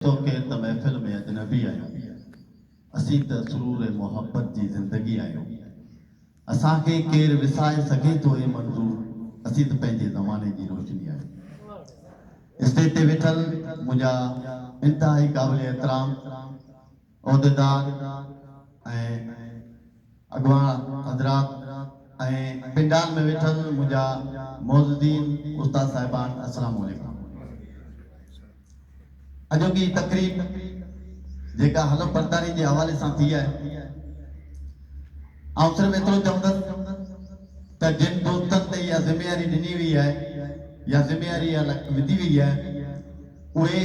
تو کي ته محفل ۾ اجنبي آهيون، اسين ته سرور محبت جي زندگي آهيون، اسان کي ڪير وسائي سگهي ٿو اي منظور، اسين ته پنهنجي زماني جي روشني آهيون. اسٽيج تي ويٺل منهنجا انتهائي قابل احترام. عهديدار ۽ اڳواڻ حضرات ۽ پنڊال ۾ ويٺل منهنجا معززين استاد صاحبان السلام عليڪم اڄوڪي هي تقريب جيڪا حلف برداري جي حوالي سان ٿي آهي آئون صرف ايترو چوندس ته جن دوستن تي اها ذميواري ڏني وئي آهي يا ذميواري اها وڌي وئي آهي اهي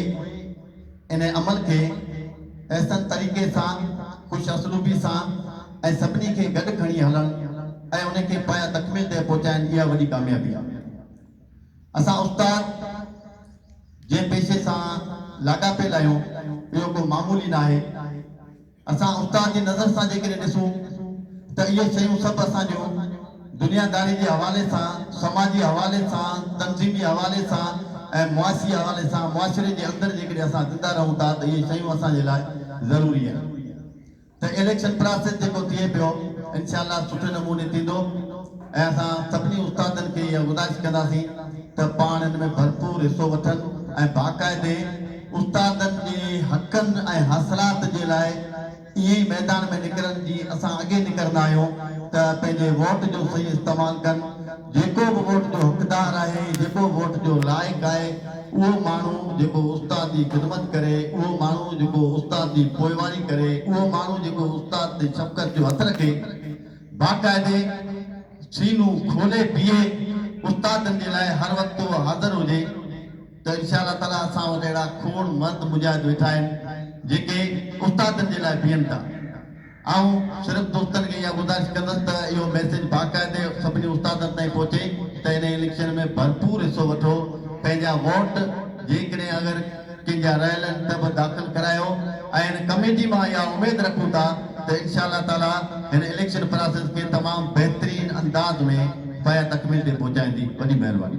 ان عمل کي احسن طريقي سان، خوش اسلوبي سان ۽ سڀني کي گڏ کڻي هلڻ ۽ ان کي پايه تڪميل تي پهچائين اها وڏي ڪاميابي آهي. اسان استاد جنهن پيشي سان لاڳاپيل آهيون اهو ڪو معمولي ناهي. اسان استاد جي نظر سان جيڪڏهن ڏسون ته اهي شيون سڀ اسان جو دنيا داري جي حوالي سان، سماجي حوالي سان، تنظيمي حوالي سان ۽ معاشي حوالي سان معاشري جي اندر جيڪڏهن اسان زنده رهون ٿا ته اهي شيون اسان جي لاء ضروري آهن ته اليڪشن پراسيس جيڪو ٿئي پيو انشاء الله سٺي نموني ٿيندو ۽ اسان سڀني استادن کي اها گذارش ڪنداسين ته پاڻ ان ۾ ڀرپور حصو وٺن ۽ باقاعدي استادن جي حقن ۽ حاصلات جي لاء ائين ئي ميدان ۾ نڪرن جيئن اسان اڳي نڪرندا آهيون ته پنهنجي ووٽ جو صحيح استعمال ڪن جيڪو به ووٽ جو حقدار آهي جيڪو ووٽ جو لائق آهي اهو ماڻهو جيڪو استاد جي خدمت ڪري اهو ماڻهو جيڪو استاد جي پوئواري ڪري اهو ماڻهو جيڪو استاد تي شفقت جو هٿ رکي باقاعدي سينو کولي بيهي استادن جي لاء هر وقت اهو حاضر هجي. ته انشاء الله تعاليٰ اسان وٽ اهڙا کوڙ مرد مجاهد ويٺا آهن جيڪي استادن جي لاء بيهن ٿا. آئون صرف دوستن کي اها گذارش ڪندس ته اهو ميسيج باقاعدي سڀني استادن تائين پهچي ته انهي اليڪشن ۾ ڀرپور حصو وٺو پنهنجا ووٽ جيڪڏهن اگر ڪنهن جا رهيل آهن ته به داخل ڪرايو ۽ ڪميٽي مان اها اميد رکون ٿا ته انشاء الله تعاليٰ هن اليڪشن پراسيس کي تمام بهترين انداز ۾ پايا تڪميل تي پهچائيندي. وڏي مهرباني.